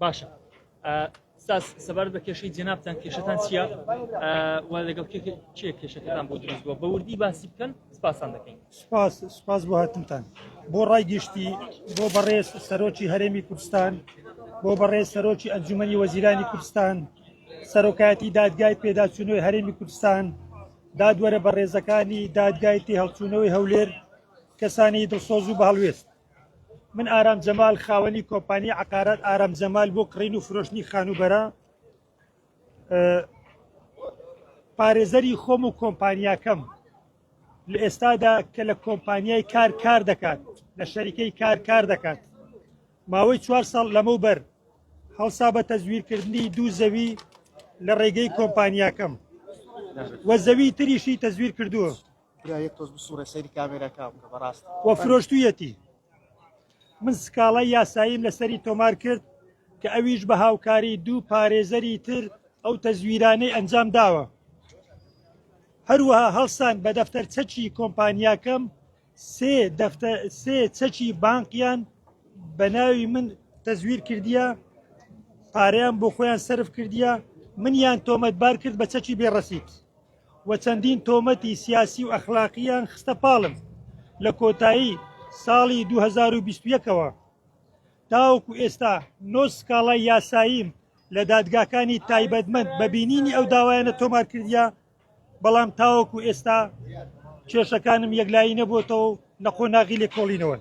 باشە ساس سەبارەت بە کێشەی جنابتان کێشتان چییە وا لەگەڵ چێ کێشەکەتان بۆ دروست بووە بەوردی باسی بکەن سپاسان دەکەین سپاس سپاس بۆ هاتنتان بۆ ڕای گشتی بۆ بەڕێز سەرۆکی هەرێمی کوردستان بۆ بەڕێز سەرۆکی ئەنجومی وەزیرانی کوردستان سەرۆکایەتی دادگای پێداچوونەوەی هەرێمی کوردستان دادوەرە بەڕێزەکانی دادگای تی هەڵچوونەوەی هەولێر کەسانی دڵسۆز و بەهڵوێست من ئارام جەمال خاوەنی کۆمپانی عقارات ئارام جەمال بۆ کڕین و فرۆشتنی خانوبەرە پارێزەری خۆم و کۆمپانیاکەم لە ئێستادا کە لە کۆمپانیای کار کار دەکات لە شەریکەی کار کار دەکات ماوەی چوار ساڵ لەمە بەر هەڵسا بە تەزویرکردنی دوو زەوی لە ڕێگەی کۆمپانیاکەم وە زەوی تریشی تەزویر کردووە برا یەک تۆز بسوڕێ سەیری کامێراکە بکە بەڕاست وە فرۆشتویەتی من سکاڵای یاساییم لەسەری تۆمار کرد کە ئەویش بە هاوکاری دوو پارێزەری تر ئەو تەزویرانەی ئەنجام داوە هەروەها هەڵسان بە دەفتەر چەکی کۆمپانیاکەم سێ دەفتە سێ چەکی بانقیان بە ناوی من تەزویر کردیە پارەیان بۆ خۆیان سرف کردیە منیان تۆمەتبار کرد بە چەکی بێڕەسیت و چەندین تۆمەتی سیاسی و ئەخلاقییان خستە پاڵم، لە کۆتایی ساڵی دوو هەزار و بیست و یەک ەوە تاوەکو ئێستا نۆ سکاڵای یاساییم لە دادگاکانی تایبەتمەند بە بینینی ئەو داوایانە تۆمار کردیە، بەڵام تاوەکو ئێستا کێشەکانم یەکلایی نەبووەتەوە و لە قۆناغی لێکۆڵینەوەن.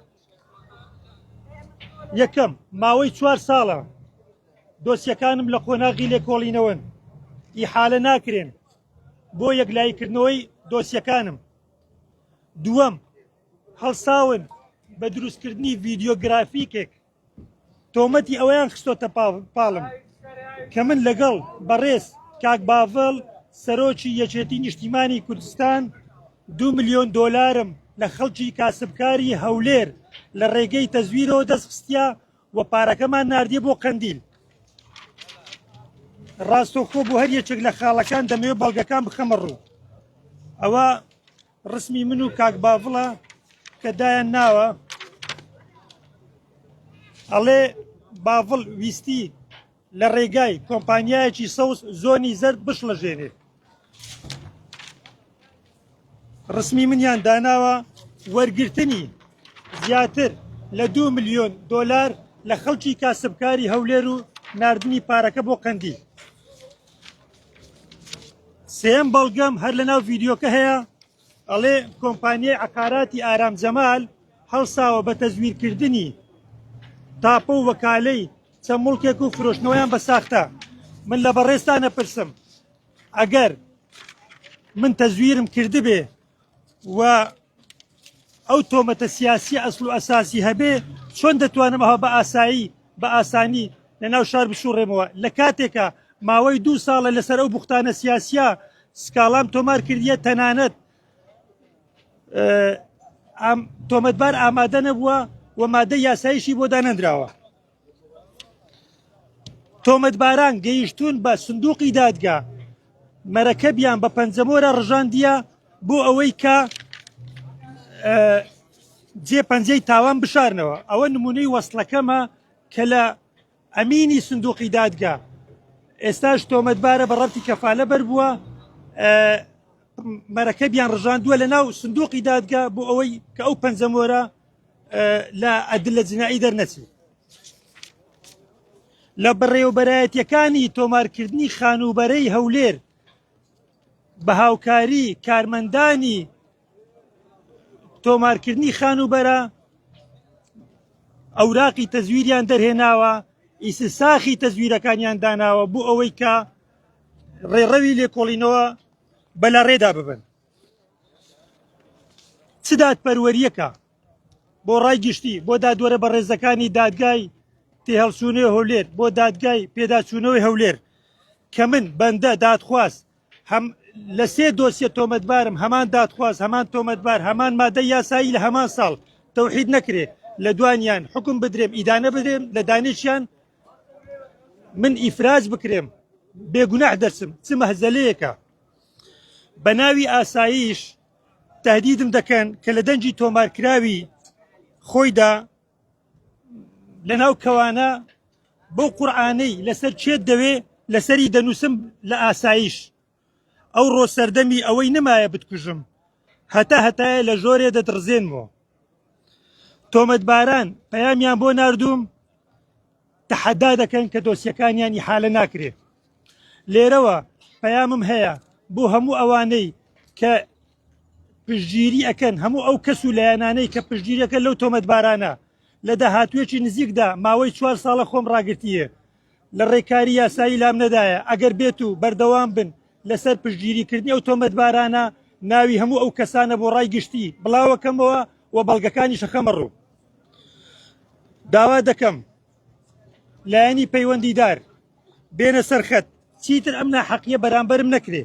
یەکەم، ماوەی چوار ساڵە دۆسیەکانم لە قۆناغی لێکۆڵینەوەن، ئیحالە ناکرێن بۆ یەکلاییکردنەوەی دۆسیەکانم. دووەم، هەڵساون بە دروستکردنی ڤیدیۆگرافیکێک، تۆمەتی ئەوەیان خستۆتە پاڵم کە من لەگەڵ بەڕێز کاک باڤڵ سەرۆکی یەکێتی نیشتیمانی کوردستان، دوو ملیۆن دۆلارم لە خەڵکی کاسبکاری هەولێر لە ڕێگەی تەزویرەوە دەستخستە و پارەکەمان نردە بۆ قەندیل ڕاستەخۆ بۆ هەر یەکێک لە خاڵەکان دەمەوێت بەڵگەکان بخەمە ڕوو ئەوە ڕسمی من و کاک باڤڵە کە دایان ناوە ئەڵێ باڤڵ ویستی لە ڕێگای کۆمپانیایەکی سەوز زۆنی زەرد بشڵەژێنێ ڕسمی منیان داناوە وەرگرتنی زیاتر لە دو ملیۆن دۆلار لە خەڵکی کاسبکاری هەولێر و نردنی پارەکە بۆ قەندی سێم بەڵگەم هەر لە ناو ڤیددیوکە هەیە ئەڵێ کۆمپانیای عقاراتی ئارام جەمال هەڵساوە بە تەزویرکردنی تاپە و وەکالەی چەند مڵکێک و فرۆشتنەوەیان بە ساختە من لە بەڕێزتان ئەپرسم ئەگەر من تەزویرم کردبێ و ئەو تۆمەتە سیاسی ئەسل و ئەساسی هەبێ چۆن دەتوانم ئەوها بە ئاسایی بە ئاسانی لە ناو شار بسوڕێمەوە لە کاتێکە ماوەی دوو ساڵە لەسەر ئەو بوختانە سیاسە سکاڵام تۆمار کردیە تەنانەت تۆمەتبار ئامادە نەبووە و مادە یاسایشی بۆ دانەنراوە تۆمەتباران گەیشتوون بە سندوقی دادگا مەرەکەبیان بە پەنجەمۆرە ڕژاندیە بۆ ئەوەی کە جێ پەنجەی تاوان بشارنەوە ئەوە نمونەی وەستلەکەمە کە لە ئەمینی سندوقی دادگا ئێستاش تۆمەتبارە بە ڕەتی کەفاالە بەر بووە مەرەکەبیان ڕژاندووە لە ناو سندوقی دادگا بۆ ئەوەی کە ئەو پەنجەمۆرە لە ئەدلە جنایی دەرنەچێ لە بەڕێوەبەرایەتیەکانی تۆمارکردنی خانووبەرەی هەولێر بە هاوکاری کارمەندانی تۆمارکردنی خانووبەرە ئەوراقی تەزویریان دەرهێناوە ئیس ساخی تەزویرەکانیان داناوە بۆ ئەوەی کە ڕێڕەوی لێکۆڵینەوە بەلا ڕێدا ببن چ دادپەروەریەکە بۆ ڕای گشتی بۆ دادوەرە بە ڕێزەکانی دادگای تێهەڵچوونەوە هەولێر بۆ دادگای پێداچوونەوەی هەولێر کە من بەندە دادخواز هەم لە سێ دۆسیە تۆمەتبارم هەمان دادخواز هەمان تۆمەتبار هەمان مادە یاسایی لە هەمان ساڵ تەوحید نەکرێ لە دوانیان حکم بدرێم ئیدانە بدرێم لە دانیشیان من ئیفراز بکرێم بێگوناح دەرسم چ مەهزەلەیەکە بە ناوی ئاساییش تهدیدم دەکەن کە لە دەنگی تۆمارکراوی خۆیدا لەناو کەوانە بەو قورآانەی لەسەر چێت دەوێ لەسەری دەنووسم لە ئاساییش ئەو ڕۆ سەردەمی ئەوەی نمایە بتکوژم هەتا هەتایە لە ژۆرێ دەدڕزێنمەوە تۆمەتباران پەیامیان بۆ نردوم تەحەدا دەکەن کە دۆسیەکانیان ئیحالە ناکرێ. لێرەوە پەیامم هەیە بۆ هەموو ئەوانەی کە پشتگیری ئەکەن هەموو ئەو کەس و لایەنانەی کە پشتگیریەکە لەو تۆمەتبارانە لە داهاتوێکی نزیکدا ماوەی چوار ساڵە خۆم ڕاگرتیە لە ڕێکاری یاسایی لام نەدایە ئەگەر بێت و بەردەوام بن لەسەر پشتگیریکردنی ئەو تۆمەتبارانە ناوی هەموو ئەو کەسانە بۆ ڕای گشتی بڵاوەکەمەوە و بەڵگەکانی شەخەمە ڕوو داوا دەکەم لایەنی پەیوەندیدار بێنە سەرخەت چیتر ئەم ناحەقیە بەرامبەرم نەکرێ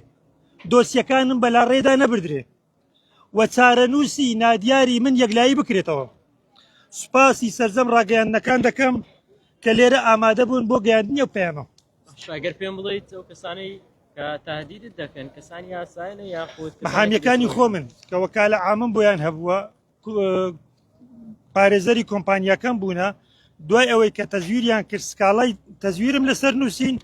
دۆسیەکانم بەلا ڕێدا نەبدرێ و چارەنووسی نادیاری من یەکلایی بکرێتەوە سوپاسی سەرجەم ڕاگەیاندنەکان دەکەم کە لێرە ئامادە بوون بۆ گەیاندنی و پەیامە شاگەر پێم بڵیت ئەو کەسانەی تهدیدت دەکەن کەسانی یاسایە یاخود حامیەکانی خۆ من کە وەکالە ئامم بۆیان هەبووە پارێزەری کۆمپانیاکەم بوونە دوای ئەوەی کە تەزویریان کرد سکاڵای تەزویرم لەسەر نووسین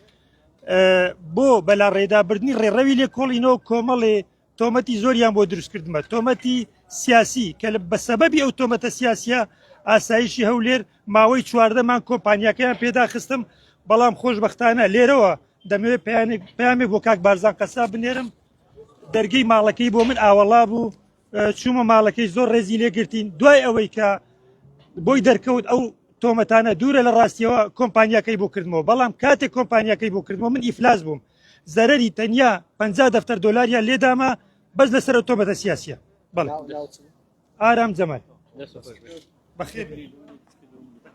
بۆ بەلا ڕێدابردنی ڕێڕەوی لێ کۆڵینەوە کۆمەڵێ تۆمەتی زۆریان بۆ دروستکردمە تۆمەتی سیاسی کە لە بە سەبەبی ئەو تۆمەتە سیاسە ئاسایشی هەولێر ماوەی چواردەمان کۆمپانیەکەیان پێداخستم بەڵام خۆشببختانە لێرەوە دەمەوێ پامێک بۆ کاک بارزان قەسا بنێرم دەرگەی ماڵەکەی بۆ من ئاوەڵا بوو چوومە ماڵەکەی زۆر ڕێزی لێگرتین دوای ئەوەی کە بۆی دەرکەوت ئەو تۆمەتانە دوورە لە ڕاستیەوە کۆمپانیەکەی بۆ کردمەوە بەڵام کاتێک کۆمپانیەکەی بۆ کردمەوە من ئیفلاس بووم زەرری تەنیا پ دەفتەر دلاریا لێدامە بەس لەسەر تۆمەتە سیاسە بەڵ ئارام جەمەل بەخێ